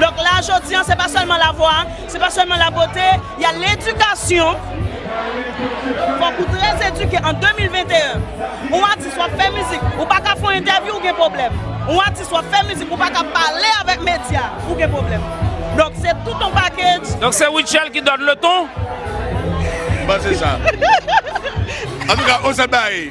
Donk la jodi an se pa sèlman lavwa, se pa sèlman labote, y a ledikasyon, fòk ou trè edike an 2021. Yon atis w ap fè mizik ou pa ka fè yon entèvyou ou gen pwoblèm, yon atis w ap fè mizik ou pa ka pale avèk medya ou gen pwoblèm. Donk se tout yon pakedj. Donk se Rutshelle ki donn leton? Bon se sa. Antouka Ozabaye.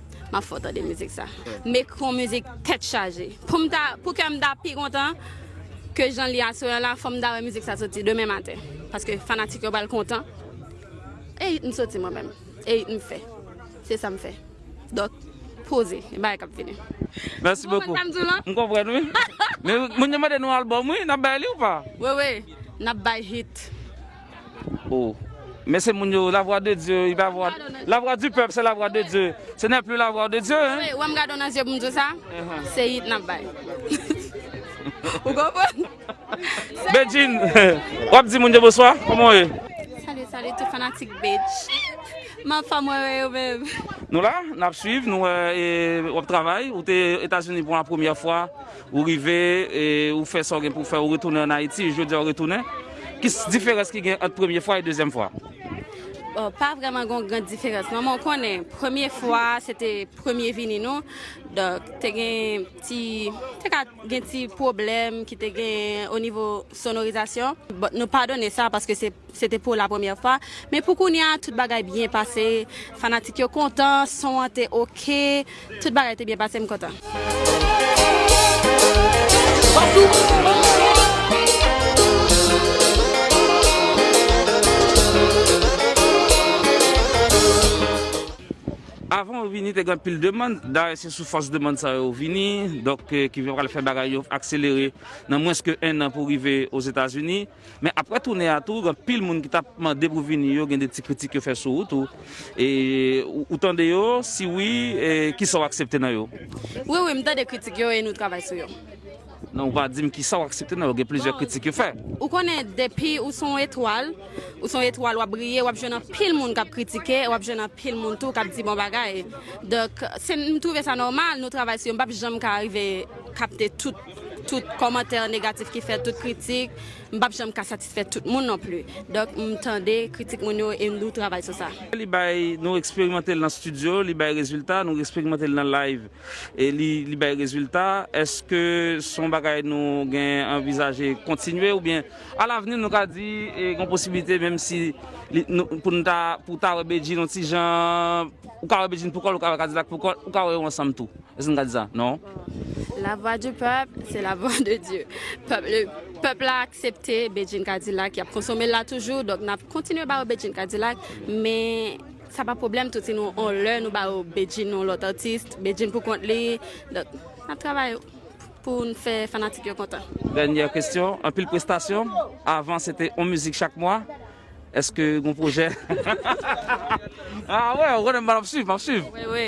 Map fè w tande mizik sa. Mecron mizik tèt chaje. Poum ta pou kèm ta pi kontan ke janl ye aswè an la fòm ta wè mizik sa soti demen maten paske fanatik yo pral kontan e ritm soti mwen menm e ritm fè se sam fè dòk poze e bagay kap vini. Mèsi bokou. M konprann wi. Moun yo mande nou album wi, nap bay li ou pa? Wewe nap bay hit. Oh Men se moun yo, la vwa de Dye, i pa vwa, la vwa di pèp se la vwa de Dye, se nè pli la vwa de Dye hein. Wè m gade w nan zye pou m di w sa, se yit nap bay. Ou konprann? Bedjine, wap di moun yo bonswa, kòman w ye? Salut salut tout fanatik Bedjine, ma fam wè wè yo menm. Nou la, nap swiv, nou wè wap travay, ou te Etazini pou la premyè fwa, Ou rive, ou fè sa w gen pou w fè, ou retounen an Ayiti, e jodi a ou retounen. Ki diferans ki gen ant premye fwa e dezyèm fwa? Bon, pa vrèman gen yon gran diferans non, men w konnen, premye fwa a se te premye vini nou, donk te gen ti, te ka gen ti pwoblèm ki te genyen onivo sonorizasyon. Bon, nou padone sa paske se. Se te pou la premyè fwa, men pou kounye a tout bagay byen pase, fanatik yo kontan, son an te ok, tout bagay te byen pase m kontan. Avan yo vini te gen anpil demann, dayè se sou fòs demann sa yo vini, donk ki vin pral fè bagay yo akselere nan mwens ke 1 an pou rive Ozetazini. Men aprè toune a tou gen anpil moun ki tap mande pou vini yo gen de ti kritik yo fè sou ou tou. E ou tande yo? Si wi, kisa ou aksepte nan yo? Wi wi m tande kritik yo e nou travay sou yo. Non ou pa dim kisa ou aksepte nan yo, gen plizyè kritik yo fè. Ou konnen depi ou se yon etwal, ou se yon etwal wap briye wap jwenn anpil moun kap kritike e wap jwenn anpil moun tou kap di bon bagay. Donk m twouve sa nòmal nou travay sou yo m pap janm ka rive kapte tout Tout kòmantè negatif ki fèt, tout kritik, m pap janm ka satisfè tout moun non pli. Donk m tande kritik moun yo e nou travay sou sa. Li bay, nou eksperimante l nan studio, li bay rezilta, nou eksperimante l nan live e li bay rezilta. Eske s on bagay nou gen anvizaje kontinye oubyen a lavni nou ka di gen posibilite menm si pou n ta pou w ta wè Bedjine on ti jan, ou ka wè Bedjine pou kò l, ou ka wè Kadilak pou kò l, ou ka wè yo ansanm tou. Eske'n gad sa? Non. La voix du peuple, c'est la voix de Dieu. Pèp la aksepte Bedjine Cadillac, yap konsomel la toujou, donk nap kontinye ba yo Bedjine Cadillac, men sa pa pwoblèm tou si nou on lè nou ba yo Bedjine yon lòt atis, Bedjine pou kont li, donk nap travay poun fè fanatik yo kontan. Dènyè kesyon, anpil prestasyon, avan se te on mizik chak mwa, Eske gon pwojè? Ah wè, ou konnen map swiv, map swiv. Wi wi.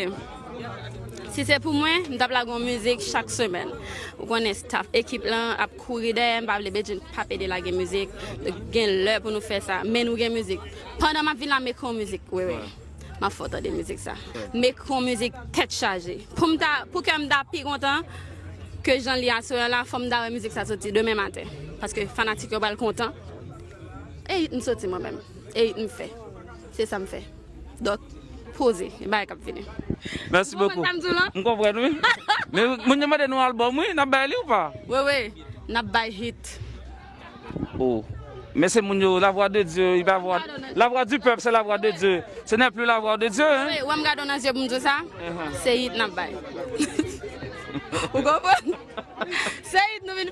Si se pou mwen, m tap lage yon mizik chak semèn. Ou konnen staff, ekip lan ap kouri dèyè m, m pa vle Bedjine pap ede lage mizik. Gen lè pou nou fè sa, men nou gen mizik. Pandan map vin la, m'ekri yon mizik. Wi wi. Map fè w tande mizik sa. M'ekri yon mizik tèt chaje. Pou m ta, pou kè m ta pi kontan ke jan li aswè an la, fò m ta wè mizik sa soti demen maten. Paske fanatik yo pral kontan. E it m soti mwen menm? E it m fè? Se sa m fè. Donk, poze. Gen bagay k ap vini. Mèsi bokou. Ou konprann sa m di w lan? M konprann wi. Men moun yo mande nou album wi. N ap bay li ou pa? Wewe, n ap bay hit. O! Men se moun yo, la vwa de Dye, e pa vwa, la vwa di pèp se la vwa de Dye. Se nè pli la vwa de Dye hein. Wewe, wè m gade w nan zye pou m di w sa? Se hit n ap bay. Ou konprann? Se hit nou vin.